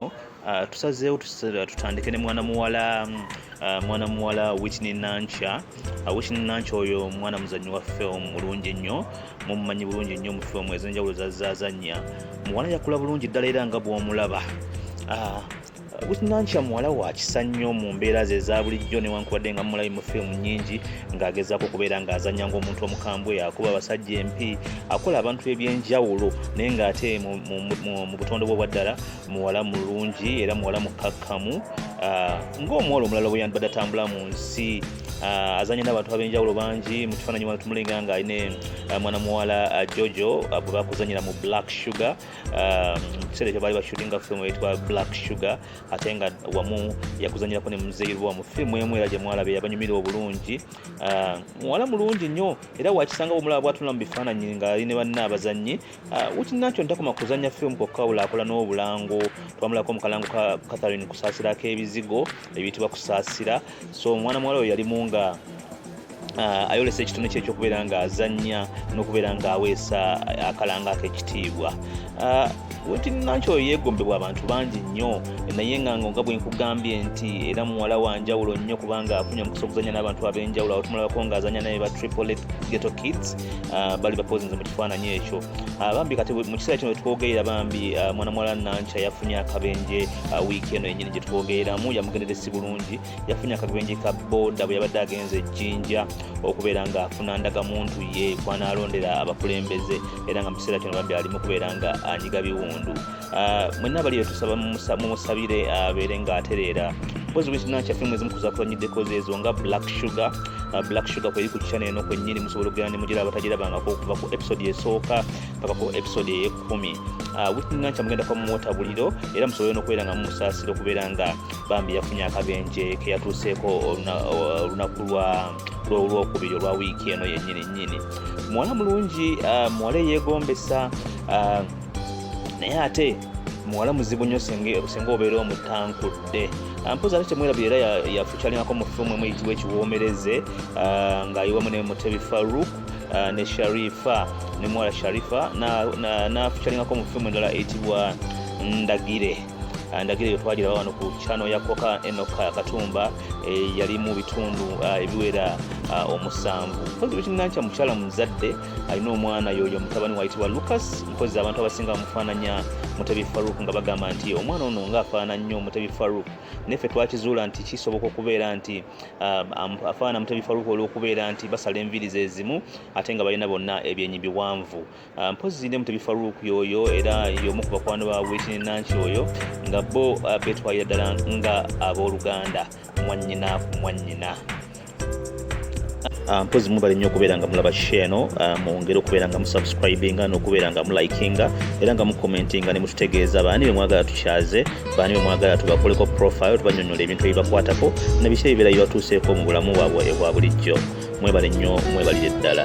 Uh, tusazeewo tutandike ne mwana muwala mm, uh, mwana muwala witney nanca uh, witney nanca oyo mwana muzanyi wa film mulungi nnyo mumumanyi bulungi nnyo mu film ezenjawulo zazazanya muwala yakula bulungi ddala era nga bwomulaba uh, witnanca muwala wa kisa nnyo mu mbeera ze eza bulijjo newankubadde nga mumulabi mu firimu nyingi ng'agezaako okubeera ng'azanya ng'omuntu omukambwe akuba abasajja empi akola abantu ebyenjawulo naye ng'ate mu butonde bwe obwaddala muwala mulungi era muwala mukkakkamu ah, ng'omuwala omulala bwe yandibadde atambula mu nsi ah, azanye n'abantu ab'enjawulo bangi mu kifaananyi wano tumulinga nga aline ah, mwana muwala jojo bwe bakuzanyira mu black sugar mu kiseera ekyo baali bashutinga firimu eyitwa black sugar ate nga wamu yakuzanyirako ne muzeyirwa mu firimu emu era gye mwalabe yabanyumira obulungi muwala mulungi nnyo era wakisanga bwomulaba bwatunula mu bifaananyi ng'ali ne banna abazannyi Ah, wikinankyo ntakoma kuzanya film kokka wulaakola n'obulango twamulako omukalango ka catherine kusaasira ak'ebizigo ebiyitibwa kusaasira so omwana muwala oyo yalimu nga ah, ayolesa ekitone kye ekyokubeera nga azanya n'okubeera nga aweesa akalanga ak'ekitiibwa ah, nti nakyo yeegombebwa abantu bangi nnyo naye nga nga bwenkugambye nti era muwala wanjawulo nnyo kubanga afunye omukisa okuzanya n'abantu ab'enjawulo awo tumulabako ng'azanya naye ba triple geto kids ah, bali bapozinze mu kifaananyi ekyo ah, bambi kati mu kiseera kino wetwogerera bambi ah, mwana muwala nankya yafunye akabenje wiiki eno yenyini gyetwogereramu yamugendere si bulungi yafunye akabenje ka boda bwe yabadde agenza ejjinja okubeera nga afuna ndaga muntu ye kwanaalondera abakulembeze era nga mu kiseera kino bambi alimu kubeera nga anyiga biwundu Ah, mwenna abali betusaba mumusabire abeere ah, nga atereera mpozi wekina kyaffe mwezi mukuzakulanyiddeko zeezo nga black sugar ah, black sugar kweri ku kikyana eno kwenyini musobola okugenda ne mugira abatagirabangako okuva ku episode esooka paka ku episode eyekumi witinanca mugenda kwa muwota buliro era musobole nokubeera nga mumusaasira okubeera nga bambi yafunye akabenje keyatuuseeko olunaku lwa lwolwokubiri olwa wiiki eno yenyini nyini muwala mulungi muwala eyegombesa naye ate muwala muzibu nnyo singa obeera omutankudde ah, mpozi ate temwerabye era yafukyalingako mu fimu emu eyitibwa ekiwoomereze ah, ng'ayiwamu ne mutebi faruk ah, ne sharifa ne muwala sharifa nafukyalingako mu fimu endala eyitibwa ndagire ndagire yo twagira wano ku kyano ya koka enoka katumba eh, yali mu bitundu ebiwera omusanvu mpozi wekinanca mukyala muzadde alina omwana yoyo mutabani wayitibwa lucas mpozi abantu abasinga bamufaananya mutebi faruk nga bagamba nti omwana ono nga afaana nnyo mutebi faruk naffe twakizuula nti kisoboka okubeera nti um, afaana mutebi faruk olwokubeera nti basala enviiri zezimu ate nga balina bonna ebyenyi biwanvu uh, mpozi ne mutebi faruk yoyo era yomu ku bakwano ba witini nanki oyo nga bo uh, betwalira ddala nga abooluganda mwanyina ku mwanyina Ah, mpozi mubale nnyo okubeera nga mulaba share no ah, mwongere okubeera nga musubscribinga n'okubeera nga mulikinga era nga mucommentinga ne mututegeeza baani be mwagala tukyaze baani be mwagala tubakoleko profile tubanyonyola ebintu ebibakwatako na biki ebibeera bibatuuseeko mu bulamu bwabwe ebwa bulijjo mwebale nnyo mwebalire ddala